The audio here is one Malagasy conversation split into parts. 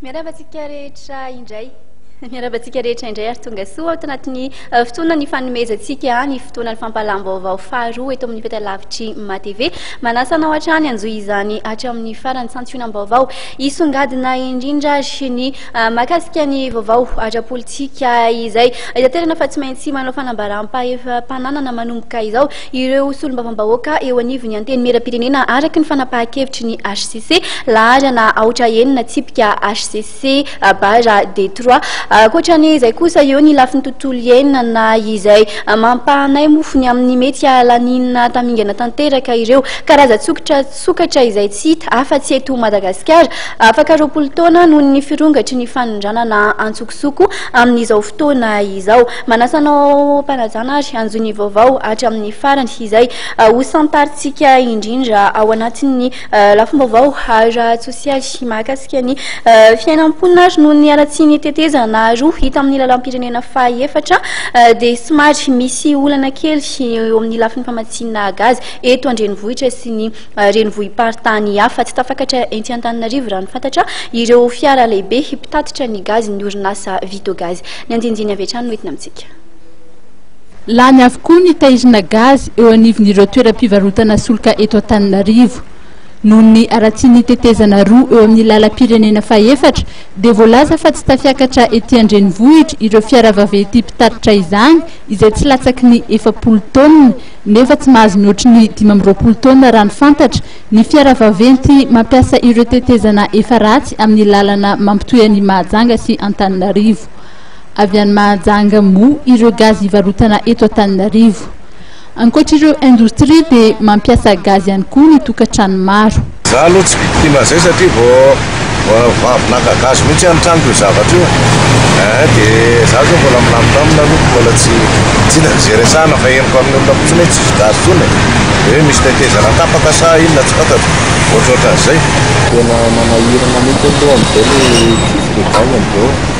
Miarahaba antsika rehetra indray. Miarahaba antsika rehetra indray ary tonga soa ato anatin'ny eh, fotoana ny fanomezantsika ny fotoana ny fampahalam-baovao faharoa eto amin'ny fetalavitry matv manasa anao hatrany anjoy izany hatramin'ny farany santionam-baovao hisongadina indrindra ary ny eh, makasika ny vaovao ara-politika izay itanterana fa tsy maintsy manao fanambaram-pananana manomboka izao Ireo solombavambahoaka eo anivon'ny Antenimierampirenena araka ny fanapahan-kevitry ny hcc, laharana aotra enina tsipika hcc barra Detroit. Ankoatra an'izay kosa eo ny lafiny tontolo iainana izay mampahanay mofo ny amin'ny mety hahalaniana tamingana tanteraka ireo karazan-tsokitra sokatra izay tsy hita afa-tsy eto Madagasikara afaka roapolo taona noho ny firongatry ny fanondranana antsokosoko. zo koa amin'izao fotoana izao. Manasa anao Mpanajana ary hanjo ny vaovao hatry amin'ny farany izay hosantarintsika indrindra ao anatin'ny lafim-baovao ara-tsosialy mahakasika ny fiainam-ponina ary noho ny haratsian'ny tetezana roa hita amin'ny lalam-pirenena fahefatra dia somary misy olana kely eo amin'ny lafiny famatsiana gazy eto an-drenivohitra sy ny renivohi-paritany hafa. Tsy tafakatra ety Antananarivo raha ny fantatra ireo fiara lehibe mpitatitra ny gazy ny orinasa Vito Gaz. Ny andinindiny avy hatrany no entina amintsika. Lany avokoa ny tairina gazy eo anivon'ireo toeram-pivarotana solika eto Antananarivo. Noho ny haratsian'ny tetezana roa eo amin'ny lalam-pirenena fahefatra dia voalaza fa tsy tafiakatra ety an-drenivohitra ireo fiara vaventy mpitatitra izany izay tsy latsaky ny efapolo taonina nefa tsy mahazo mihoatry ny dimy amby roapolo taonina raha ny fantatra, ny fiara vaventy mampiasa ireo tetezana efa ratsy amin'ny lalana mampitohy an'i Mahajanga sy Antananarivo. Avy any Mahajanga moa ireo gazy hivarotana eto Antananarivo. Ankoatr'ireo indostria dia mampiasa gazy ihany koa ny tokantrano maro. Za aloha tsy victime an'izay satria vao avy naka gasy mihitsy any tranoko io zavatra io eh, de za zao mbola milamindamina aloha ko mbola tsy tsy hita ze resahana fa henoko amin'ny olona fotsiny hoe tsisy gasy tsony e, de hoe misy tetezana tapaka sa inona tsy fantatro, ohatrohatran'izay. Tena manahirana mihitsy aloha amin'izao le tsisy revage amin'izao e.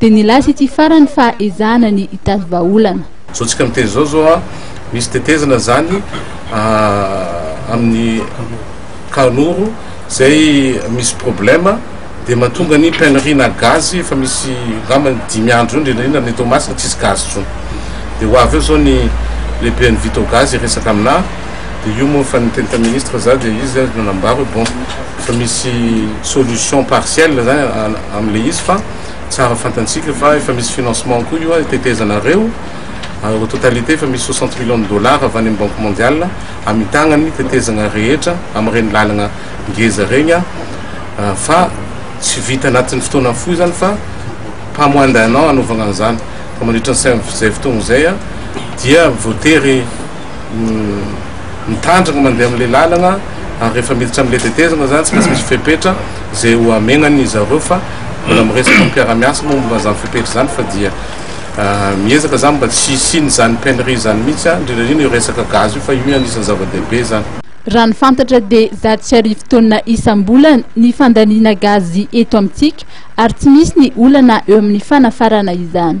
Dia nilaza ity farany fa ezahana ny hitady vahaolana. Zao tsika miteny zao zao a, misy tetezana zany amin'ny Kahanoro zay misy problème dia mahatonga ny peinerie na gaz efa misy angamba ny dimy andro eo indrindra indrindra any Toamasina tsisy gaz tsony dia ho avy eo zao ny lehiben'ny Vito gaz hiresaka aminà dia io moa efa niteny tamin'ny ministre za dia izy nanambara hoe bon efa misy solution partielle zany am'le izy fa tsara fantantsika fa efa misy financement koa io ary tetezanareo ary au totalité efa misy 60 millions de dollars avy any amin'ny banque mondiale hamitagna ny tetezagna rehetra amin'ireny lalagna ngeza regny ah, fa tsy vita anatin'ny fotoana fohy izany fa pas moins d'un an hanaovagna an'izany fa mandritra ny izay fotoagna izay ah, dia voatery mitandrina mandeha amin'ilay lalana ary rehefa miditra amin'ilay tetezana izany tsy maintsy misy fepetra izay ho hamenan'izy ireo fa mbola miresaka amin'ny mpiara-miasa moa momba izany fepetra izany fa dia ah, miezaka izany mba tsy hisian'izany painerie izany mihitsy, ah, indrindra indrindra io resaka gazy io fa io ihany isan'ny zava-dehibe izany. Raha ny fantatra dia zato sy arivo taonina isam-bolana ny fandaniana gazy eto amintsika ary tsy misy ny olana eo amin'ny fanafarana izany.